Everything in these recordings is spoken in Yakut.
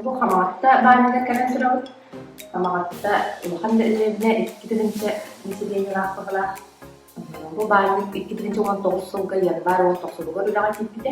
Бу Хамаатта баанньыгар кэлэн турабыт. Хамаатта улахан да дэриэбинэ икки тыһыынча населениелаах баҕалаах. Бу баанньык икки тыһыынча уон тоҕус сылга январь уон тохсунугар үлэҕэ киирбитэ.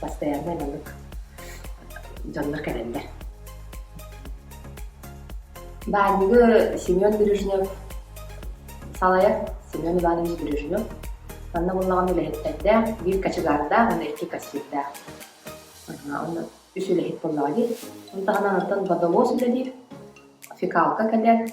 Постояннай маннык дьоннор кэлэллэр. Баарыгы Семен Бережнев, салайа Семен Иванович Бережнев, манна буллаҕын үлэһиттэрдээх, биир качегардаах, уонна икки кассирдаах. Уонна үс үлэһит буоллаҕа дии. Ол таһынан онтон водовоз үлэлиир, фекалка кэтэр,